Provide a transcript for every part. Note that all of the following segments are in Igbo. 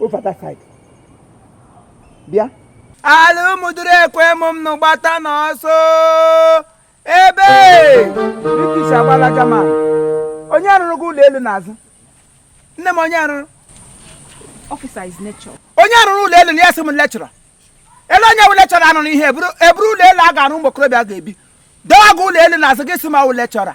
over that side bịa ala ụmụdụrụ ekwe m m nụ gbata n'ọsọ ebe british agbala German onye rụrụ gị ụlọ elu n'azụ nne m onye rụrụ Officer is nature. onye a rụrụ ụlọ elu na ya sị m lecturer ele onye wụ lecturer anụrụ ihe eburu eburu ụlọ elu a ga-arụ ụmụ okorobịa ga-ebi dọwa gị ụlọ elu n'azụ gị sị m awụ lecturer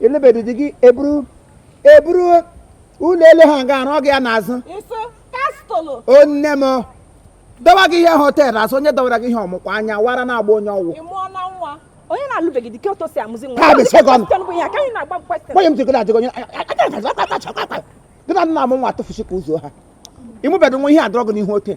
elebedị di gị eburu eburu ụlọ elu ha ga arụ gị ya n'azụ Iso castle. o nne m dọwa gị ihe họtel azụ onye dọwara gị ihe ọmụkwa anya wara na-agba onye ọgwụ Ị mụọ na nwa. Onye na-alụbeghị di ka otu o si amụzi nwa. Ha bụ ise gị ọnụ. Question bụ ihe a, ka anyị na-agba m question. nwunye m jikọrọ ajịgọ onye gị na nna m nwa tụfusi ka ụzọ ha ịmụbedo nwa ihe adọrọ gị n'ihu ote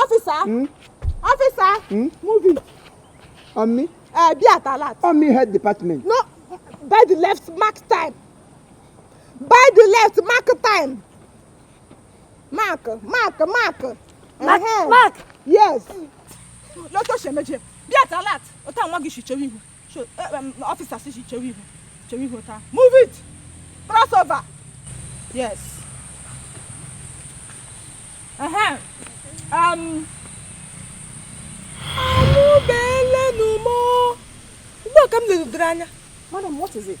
ọfịsa ọfịsa muvi ọmị bịa talat ọmị head department no by the left mark time by the left mark time mark mark mark mark mark yes lọ́tọ̀ ṣẹ̀mẹ́jẹ bịa talat ọ̀tá àwọn ọmọ gị ṣìṣẹ́ wíwú. officer sị gị chewe ihu chewe ihu taa move it cross over yes ehem um amụbeelenu m ugbu a ka m lerudere anya madam what is it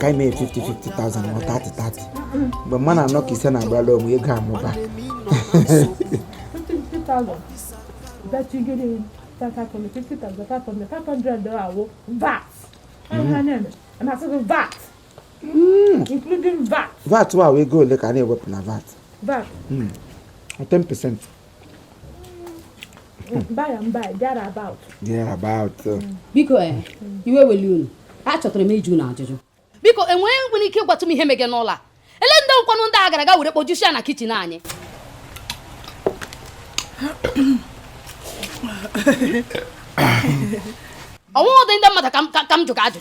ka anyị mee 50-50,000 ma 30-30 mgbe mma na anọ ka ise na-agbara onwe ego amụba vat wa ego ole ka a na-ewepụ na vat 10% biko eh, iwe eweli unu achọtara m ịjụ unu ajụjụ biko enweghị nwere ike ịgwatụ m ihe mege n'ụlọ a ele ndị nkwanụ ndị a gara ga were kpojusi ya na kitchen anyị ọ wụdị ndị mmadụ ka m jụga ajụ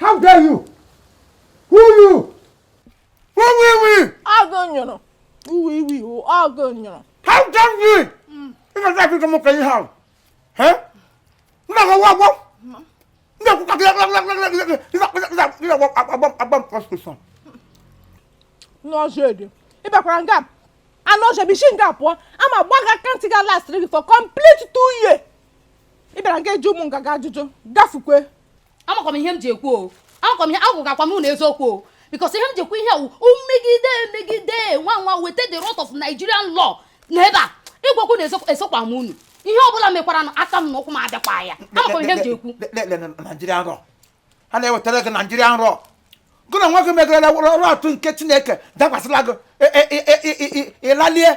How dare you? Who you? Who we we? Ọgụ nyụrụ. Uwe iwe iwu ọgụ nyụrụ. How dare you? Ị ga-ata akụkọ m ka ihe ahụ. Nna gị ọgwụ ọgwụ. Nna gị ọgwụ ọgwụ. Ị ga-agba agba agba prostitution. N'ọzọ ede. Ị bịakwara nga m. Anụ ọzọ bụ isi nga pụọ. Ama gba gị aka ntị ga last gị for complete two years. Ị bịara nga ịjụ mụ nganga ajụjụ. Gafukwe. amakwa m ihe m ji ekwu o amakwa m ihe agwụ gakwa m na eziokwu o because ihe m ji ekwu ihe a wụ mmegide emegide nwa nwa weta the wrath of Nigerian law na ebe a ịgwakwu na esokwa m unu ihe ọ bụla mekwara na aka m na ụkwụ m adịkwa ya amakwa m ihe m ji ekwu Nigerian law ha na-ewetara gị Nigerian law gị na nwa gị megarala wrath nke chineke dakwasịla gị ịlalie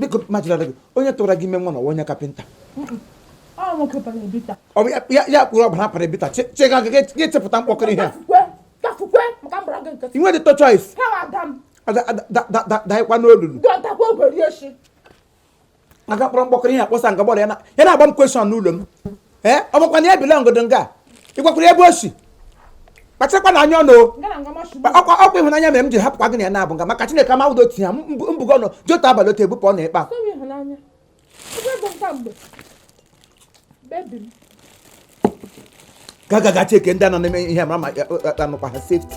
biko majira gị onye tụwara gị ime nwa na ọ wụ onye kapịnta ya kpụrụ ọbara para ebita chega gị ga-echepụta mkpọkọrọ ihe ị nwedị to choice daịkwa n'olulu a ga-akpọrọ mkpọkọrọ ihe akpọsa nga gbọrọ ya na-agba m kweshọn n'ụlọ m ee ọ bụkwa na ya ebilagodu nga a ị gwakwara ebe o si kpachakwa na anya ọnụ o. Ngara ngwa mashu. Kpa- ọkwa ọkwa ịhụnanya mere m ji hapụkwa gị na ya na-abụ nga maka chineke ama udo tinye mbụgo ọnụ jota abalị otu ebupụ ọ na-ekpe a Sorry ịhụnanya. Ebe bụ nka mgbe. Baby m. gagagachi eke ndị a nọ na-eme ihe mara ma ya- ya- ya nụkwa ha sefti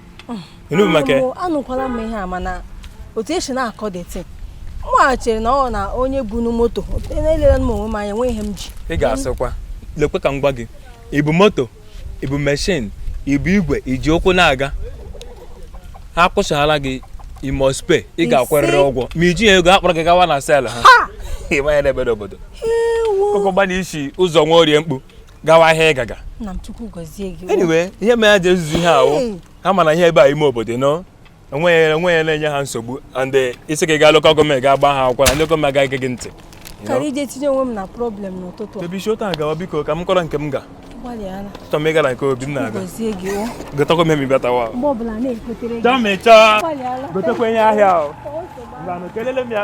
anụkwala m ihe a mana otu e si na-akọ the thing mụghachiri na ọ na onye bu nu moto elere m onwe m anya enweghị ihe m ji ị ga-asịkwa lekwe ka m gwa gị i bu moto i bu meshin i bu igwe i ji ụkwụ na-aga ha kwụsala gị you must pay ị ga-akwarịrị ụgwọ ma i jighị ego a kpọrọ gị gawa na sel ha ị ma ya n'ebe obodo okogbana isi ụzọ nwa orie mkpu gawa ahịa ị ga-aga anyway ihe mere ha ji ezuzu ihe a wụ ha ma na ihe ebe a ime obodo na enweghị onye na-enye ha nsogbu and eh, ị sị ka ị gaa lokal gọọmenti gaa gbaa ha akwụkwọ na ndị gọọmenti agaghị ege ntị karịa ije tinye onwe m na problem n'ụtụtụ a ebe i si otu a gawa biko ka m kọrọ nke m gaa chọọ m ịgara nke obi m na-aga gotakwa m ihe ma ị bịatawa chọọ m ịchọ gotakwa ihe ahịa o ngwanụ kelele m ya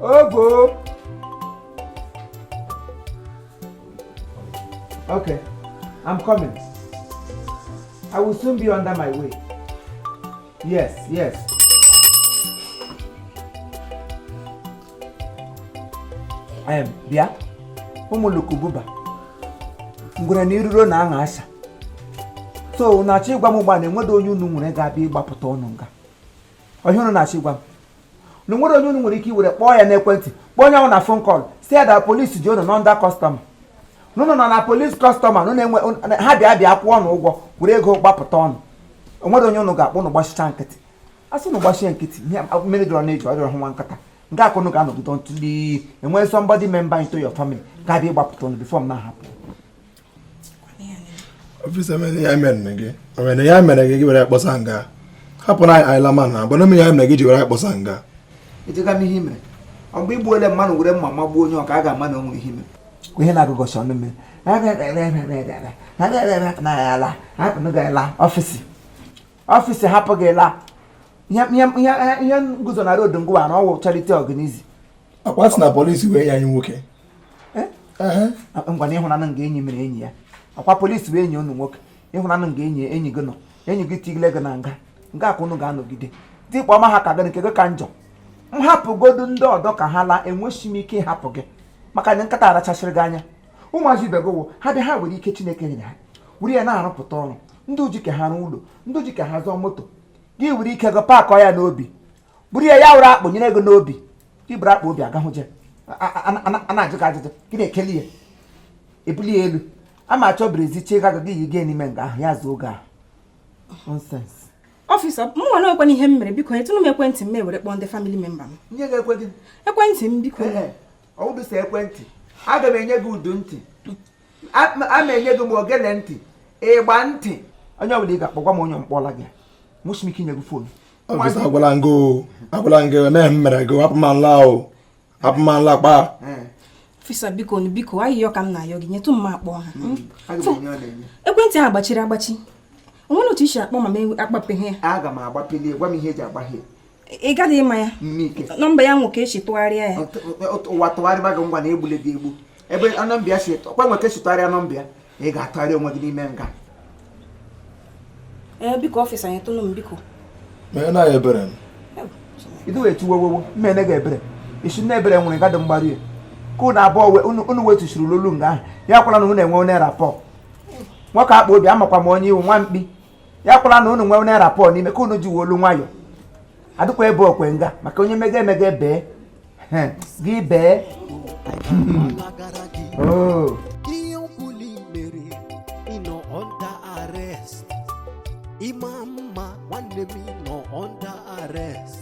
Ogo. Okay, I'm coming. I will soon be under my way. Yes, yes. Um, bịa ụmụ ulukububa ngwere na iruro na aṅa asha so unu na-achọ ịgwa m ugbu a na enweghị onye unu nwere ga-abịa ịgbapụta unu nga ọ ihe unu na-achọ ịgwa m na o nwere onye unu nwere ike iwere kpọọ ya n'ekwentị kpọọ onye ahụ na fon kọl say that polisi ji unu nọ under kọstọma na unu nọ na polisi kọstọma ha bịa bịa kwụọ unu ụgwọ were ego gbapụta unu o nwere onye ụnụ ga-akpọ ụnụ agbachicha nkịtị a sị ụnụ gbachie nkịtị ihe mmiri dọrọ n'eju ọ dọọrọ nwa nkịta nga a ka ụnụ ga-anọgide until e nwee somebody member into your family ga-abịa ịgbapụta ụnụ before m na-ahapụ ọfisa mere ya mere gị o mere ya mere gị gị were kpọsa nga hapụ na anyị lama na agbana m ya mere gị ji were kpọsa nga ejega m ihe mere ọ mgbe i gbuole mmanụ were mma magbuo onye ọ ka a ga-ama na o nwere ihe mere ihe na-agụgọcha ọnụ mmiri ala ọfisa ọfisa hapụ gị la ihe nguzo na road ngụwa na ọ wụ charity organization ọkwa a sị na polisi wụ enyi anyị nwoke ngwa na ị hụnanụ nga enyi mere enyi ya ọkwa polisi bụ enyi unu nwoke ị hụnanụ nga enyi enyi gị nọ enyi gị tigile gị na nga nga ka unu ga-anọgide dịkpa ọma ha ka gị nke gị ka njọ m hapụgodu ndị ọdọ ka ha laa enweghị m ike ịhapụ gị maka na nkịta arachasịrị gị anya ụmụazị ibe gị wụ ha bịa ha were ike chineke nyere ha were ya na-arụpụta ọrụ ndị uji ka ha rụọ ụlọ ndị uji ka ha zụọ moto gị were ike gị paakọ ya n'obi buru ya ya wụrụ akpa nyere gị n'obi i buru akpa obi agahụje a na-ajụ gị ajụjụ gị na-ekeli ya ebuli ya elu a ma achọ brezi chie gaga gị yi gị n'ime nga ahụ ya zuo gị ahụ nonsense ọfịsa m nwa na ekwenye ihe m mere biko nyetụnụ m ekwentị m were kpọọ ndị family member m nye gị ekwe gị ekwentị m biko ọ wụghị sọ ekwentị aga m enye gị udu ntị a ma enye gị ma ogele ntị igba ntị onye ọbụla ị ga-akpọ gwa m onye m kpọọla gị enweghị m ike inye gị fonu ọfisa agwala m gị agwala m gị enweghị ihe m mere gị hapụ m laa o hapụ m laa kpa ọfisa biko biko ayịyọ ka m na-ayọ gị nyetụ m akpọ ha hmm. Hmm. ekwentị ahụ gbachiri agbachi o nwere otu i si akpọ ma m akpapeghị ya aga m agbapeli gwa m ihe e ji agbaghe ị gaghị ịma ya nọmba ya nwe ka e si tụgharịa ya ụwa tụgharịba gị ngwa na egbule gị egbu ebe nọmba ya si ọkwa nwe ka e si tụgharịa nọmba ya ị ga-atụgharị onwe gị n'ime nga ee biko ọfịsa nyetụnụ m biko mee na ya ebere m idu wee tiwewewo mmene ga ebere i si na ebere nwere gadị mgbaru ya ka unu abụọ unu wetusiri lolu nga ahụ ya kwara na unu enwe onye rapọ nwoke akpa obi amakwa m onye ị wụ nwa mkpi ya kwala na unu nwe naira pọ n'ime ka unu ji olu nwayọ adịkwa ebe akwa nga maka onye mega emega bee gị bee oh. ị ma na nwanne m nọ under arrest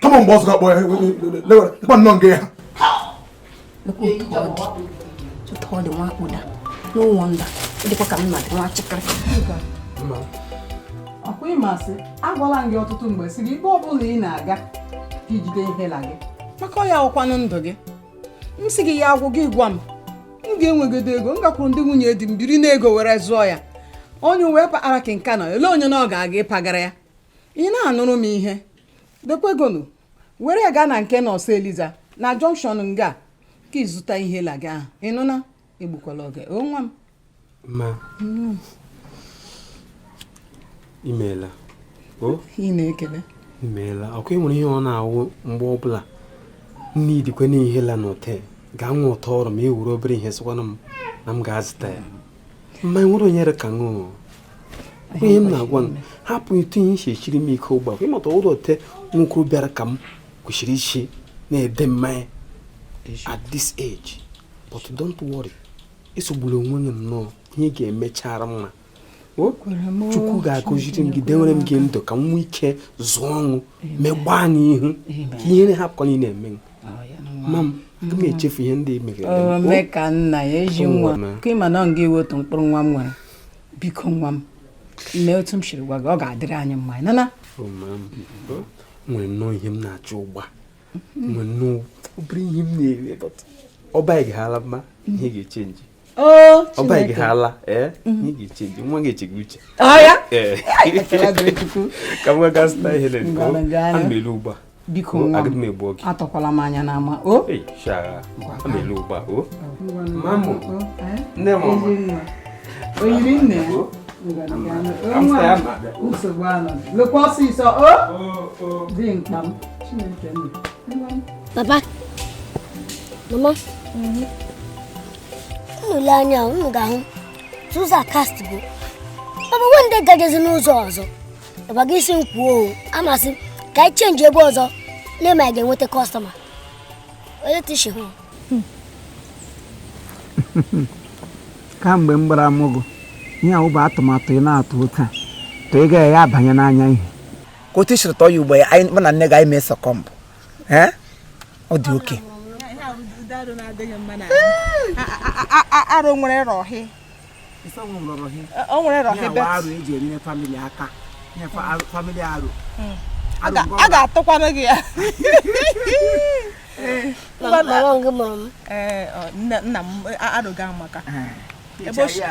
kama mgbe ọzọ akpọ ya lekwa nnọọ nga ya ụtọ ọ dị nwa akpụda n'ụlọ nda dịkwa ka nna dị nwa chịkịrị ọkwa ị ma sị agwala m gị ọtụtụ mgbe sị gị ebe ọ bụla ị na-aga ka i jide inhaler gị maka ọ ya wụkwanụ ndụ gị m sị gị ya agwụ gị gwa m m ga-enwegodu ego m gakwuru ndị nwunye di m biri n'ego were zụọ ya onye uwe kpakpara ka nka nọ ele onye na ọ ga-aga ịpagara ya ị na-anụrụ m ihe dekwegonu were ya gaa na nke nọọsụ eliza na junction nga ka ị zụta ihe la gị ahụ ị nụna egbukwala oge o nwa m ma imeela o ị na-ekele imeela ọkwa ị nwere ihe ọ na-awụ mgbe ọbụla nne idikwe na ihe la n'ụtọ gaa nwa ụtọ ọrụ ma e were obere ihe sịkwana m na m ga-azụta ya mma nwere onyere ka ṅụọ ihe m na-agwa m hapụ etu ihe si siiri m ike ụgba ịmata ụlọ te nwoke bịara ka m kwesịrị isi na-ede mmanya at this age but don't worry esogbula onwe gị nnọọ ihe ga-emechara mma chukwu ga-agọziri m gị dewere m gị ndụ ka m nwee ike zụọ ọṅụ megbaa n'ihu ka ihere hapụkwa ịna-eme ma m aga m echefu ihe ndị megere ome ka nna ya ezi nwa ka ị ma na ọ gị wụ otu mkpụrụ nwa m nwere biko nwa m mee otu m siri gwa gị ọ ga-adịrị anyị mma na m nwere nnọọ ihe m na-achọ ụgba nwere nnọọ obere ihe m na-ere ọba ị ga-ala mma ihe ga-echenji Oh, ọ baghị gị ha ala ee mhm. nwa gị echegbu uche ka m gaga zụta ihe lere ana m alọ ugbu a biko nwa m egbu oge atọkwala m anya n'ama o oh. ana m alọ ugbu a o oh. mamụ oh, eh? nne m oyiri nne nsogbu anọ lọkwa ọsịsọ o dị mkpa m chineke nna papa mama mhm. unu le anya unu ga-ahụ ụzọ a cast go papa nwe ndị gajezi n'ụzọ ọzọ ịgwa gị isi m kwuo o a m sị ka anyị chenji ebe ọzọ na-eme anyị ga-enweta kọstọma onye tishi hụ kamgbe m gbara amụgụ ihe ahụ bụ atụmatụ ị na-atụ ụta to ị gaghị abanye n'anya ihe ka otu i siri tụọ ya ugbu a mụ na nne gị anyị mee succumb ee ọ dị oke arụ nwere rọhị o nwere rọhị bet hmm. a ga-atụkwanụ gị ya eh. eh, nna m arụga maka eh. ebe ochie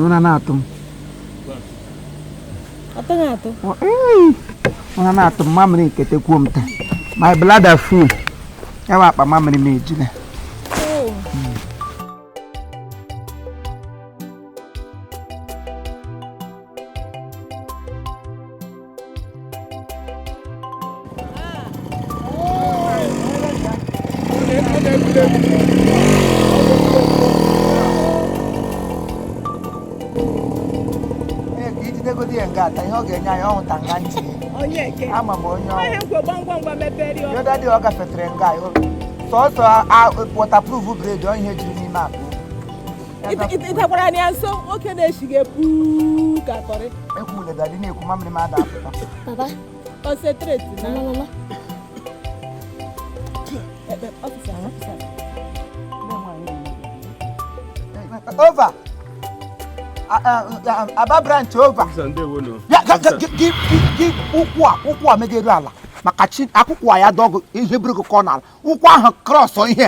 ụra na-atụ m ụra na-atụ m mamịrị nkete kwuo m taa my bladder full ya bụ akpa mamịrị m ejula ga-ata ihe ọ ga-enye anyị ọhụta nga ntị ama m onye ọ wụ daddy a ọ gafetere nga sọsọ waterproof bread ọ ihe jiri n'ime akpa ịtakwara anya nso nwoke na-echighị epu ka kọrị papa concentrate na mama over Aba branch over gị ụkwụ a ụkwụ a megere ala maka chi akwụkwọ ya dọgụ ihe buru gị kụọ n'ala ụkwụ ahụ cross ihe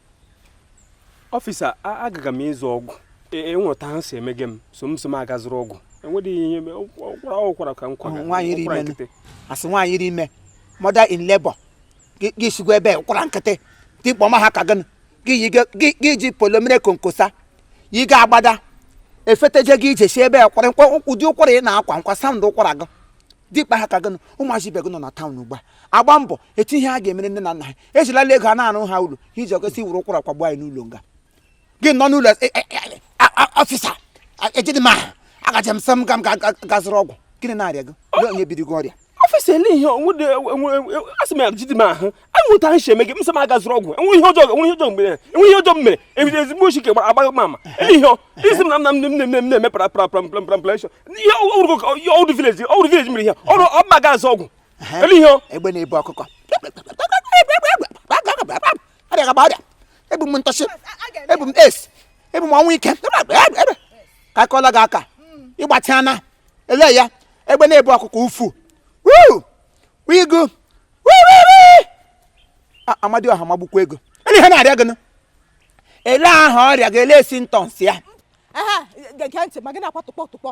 officer agaga m ịzụ ọgwụ enweta e ahụ si emege m so m so m aga zụrụ ọgwụ enwedịghị ihe ụkwara ụkwara ka m kwaga asị nwaanyị rị ime mother in labor gị sigwa ebe ụkwara nkịtị dimkpa ha ka gị gị ji polomere konkosa yiga agbada efeteje gị ije si ebe kwara ụdị ụkwara ị na-akwa nụkwa sound ụkwara gị dimkpa ha ka gị ụmụazị ibe gị nọ na town ugbu a agba mbọ eche ihe ha ga-emere nne na nna ha ejilala ego a na-arụ ha ụlọ ha iji ọkọsi wuru ụkwara kwagbu anyị n'ụlọ nga gị nọ n'ụlọ e- e- e- a- a- officer a- ejidị m ahụ agaje m sị m ga m ga- ga- ga zụrụ ọgwụ gịnị na-arịa gị lee onye biri gị ọrịa officer ele ihe onwede asị m ya ejidị m ahụ anwụta ahụ si eme gị m sị m aga zụrụ ọgwụ enweghị ihe ọjọọ enweghị ihe ọjọọ mgbe enweghị ihe ọjọọ m mere ebido ezigbo ochi ka gbara agbaghị m ama ele ihe ọ- isi m na nna m nne m nne m nne m na-eme para para para para para ihe ọ wụrụ village ọ wụrụ village mere ihe ọrụ ọba ga azụ ọgwụ ele ihe egbe na-ebu ọkụkọ ebu m ntọchi ebu m es ebu m ọnwụ ike ka akọla gị aka ịgbatị ana ele ya egbe na-ebu ọkụkọ ufu wigo Amadịọha magbukwa gị ele ihe na-arịa gị ele aha ọrịa gị ele symptoms ya gee ntị ma gị na-akwa tụkpọ tụkpọ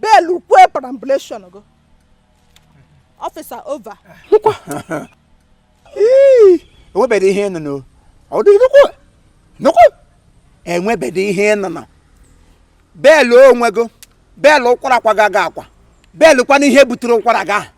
bail kwee parambulation gị officer over nkwa enwebeghị ihe nọ n'o ọ dị nnukwu nnukwu enwebeghị ihe nọ na bail onwe gị bail ụkwara akwa gị akwa bail kwana ihe butere ụkwara gị ahụ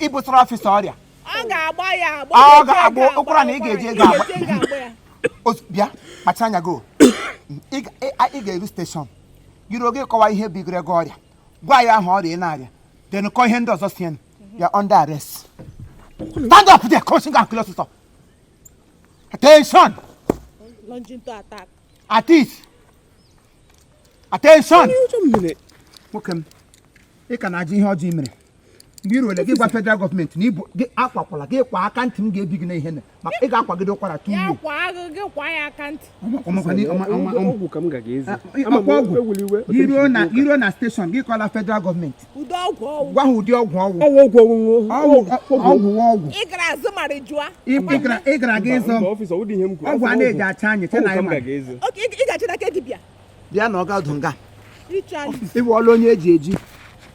ibutara officer ọrịa ọ ga-agba ya agba ọ ga-agba ụkwara na ị ga-eji ego agba bịa kpacha anya gị ị ga-eru station jiri oge kọwa ihe bigoro gị ọrịa gwa ya aha ọrịa ị na-arịa then kọ ihe ndị ọzọ sie ya under arrest stand up there coaching and kill ọsụsọ attention at it attention nwoke m ị ka na-ajụ ihe ọjọọ i mere mgbe i ruole gị gwa federal gọọmenti na ibu gị akwakwala gị kwa aka ntị m ga-ebi gị na ihe maka ị ga-akwagide ụkwara two years i ruo na steshọn gị kọla federal gọọmenti gwa ha ụdị ọgwụ ị gara azụ mara jụa ị gara aga ịzọ ọgwụ a na-eji acha anya che na anyị mara ị ga-achị n'aka dibịa bịa nọrọ ọdụ nga ị wụọla onye e ji eji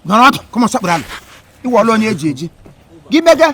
nọrọ ọdụ come on sekpuru ala ị wụọla onye e ji eji gị mega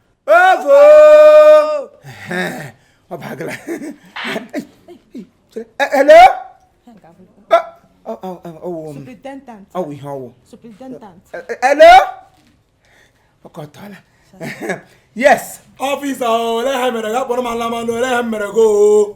ovo ọ bagala hello ọwụ ọwụ ihe ọwụ hello ọkọtọla yes officer olee ihe mere ga kpọrọ m ala manụ olee ihe mere goo